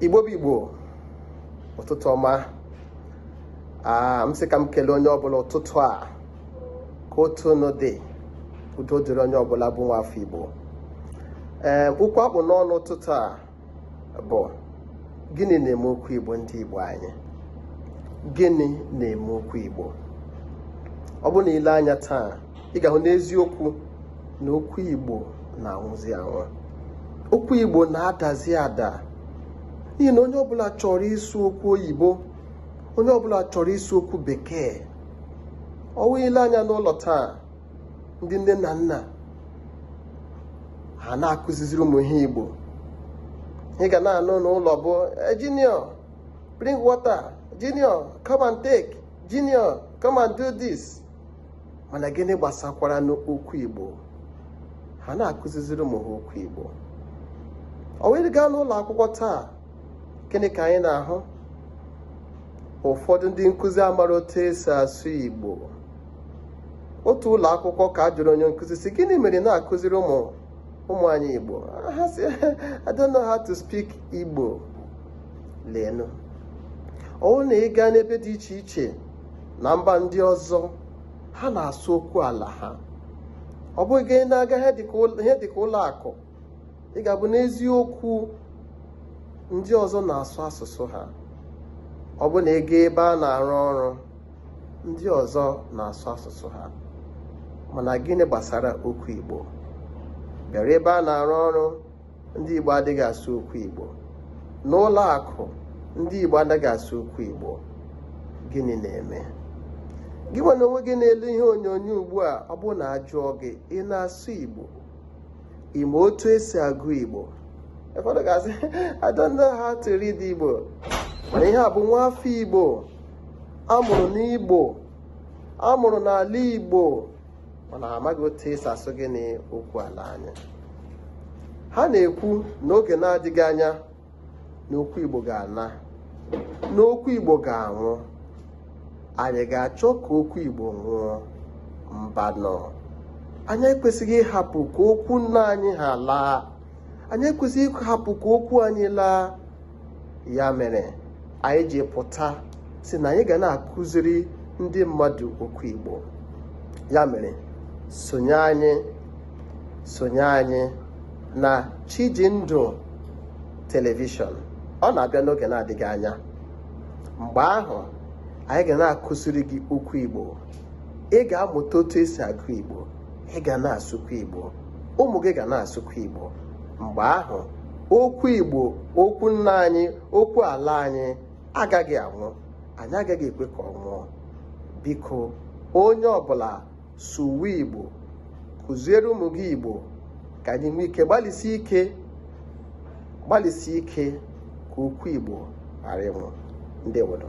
igbo bụ igbo ụtụtụ ọma m sị ka m kelee onye ọbụla ụtụtụ a ka otu unu dị udo dịrị onye ọbụla bụ nwa afọ igbo ee okwu a kpụ n'ọnụ ụtụtụ a bụ gịnị na-eme okwu igbo ndị igbo anyị gịnị na-eme okwu igbo ọ bụrụ na i lee anya taa ị ga-ahụ n'eziokwu na okwu Igbo na-anwụzi anwụ okwu Igbo na-adazi ada n'ihi na onye ọbụla chọrọ ịsụ okwu oyibo onye ọbụla chọrọ ịsụ okwu bekee ọ wụ i lee anya n'ụlọ taa ndị nne na nna ha na-akụziziri ụmụ ha Igbo ị ga na-anụ n'ụlọ bụ eh, junior bring water junior come and take junior come and do this mana gịnị gbasakwara n'okwu Igbo ha na-akụziziri ụmụ ha okwu Igbo ọ wụrụ ị gaa n'ụlọ akwụkwọ taa gịnị ka anyị na-ahụ ụfọdụ ndị nkụzi amara otu esi asụ Igbo otu ụlọ akwụkwọ ka a jụrụ onye nkụzi sị gịnị mere na-akụziri ụmụ ụmụ anyị Igbo ha sị I don't know how to speak Igbo leenụ ọ wụrụ na ị gaa n'ebe dị iche iche na mba ndị ọzọ ha na-asụ okwu ala ha ọ bụrụ gị na-aga ihe dịka ụlọ akụ ị ga-ahụ n'eziokwu ndị ọzọ na-asụ asụsụ ha ọ bụrụ na ị gaa ebe a na-arụ ọrụ ndị ọzọ na-asụ asụsụ ha mana gịnị gbasara okwu Igbo bịara ebe a na-arụ ọrụ ndị Igbo adịghị asụ okwu Igbo n'ụlọ akụ ndị Igbo adịghị asụ okwu Igbo gịnị na-eme gị nwa n'onwe gị na-ele ihe onyonyo ugbu a ọ bụrụ na a jụọ gị ị na-asụ Igbo ị ma otu esi agụ Igbo ụfọdụ ga-asị I don't know how to read Igbo mana ihe a bụ nwa afọ Igbo a mụrụ n'Igbo a mụrụ n'ala Igbo mana ha amaghị otu esi asụ gịnị okwu ala anyị ha na-ekwu na oge na-adịghị anya na okwu Igbo ga-ana na okwu Igbo ga-anwụ anyị ga-achọ ka okwu Igbo nwụọ mbanụ anyị ekwesịghị ịhapụ ka okwu nna anyị ha laa anyị ekwesịghị ịhapụ ka okwu anyị laa ya mere anyị ji pụta sị na anyị ga na-akụziri ndị mmadụ okwu Igbo ya mere sonye anyị sonye anyị na Chijindụ telivishọn ọ na-abịa n'oge na-adịghị anya mgbe ahụ anyị ga na-akụziri gị okwu Igbo ị ga-amụta otu esi agụ Igbo ị ga na-asụkwa Igbo ụmụ gị ga na-asụkwa Igbo mgbe ahụ okwu Igbo okwu nna anyị okwu ala anyị agaghị anwụ anyị agaghị ekwe ka ọ nwụọ biko onye ọbụla sụwe Igbo kụziere ụmụ gị Igbo ka anyị nwee ike gbalịsi ike ka okwu Igbo ghara ịnwụ ndewo nụ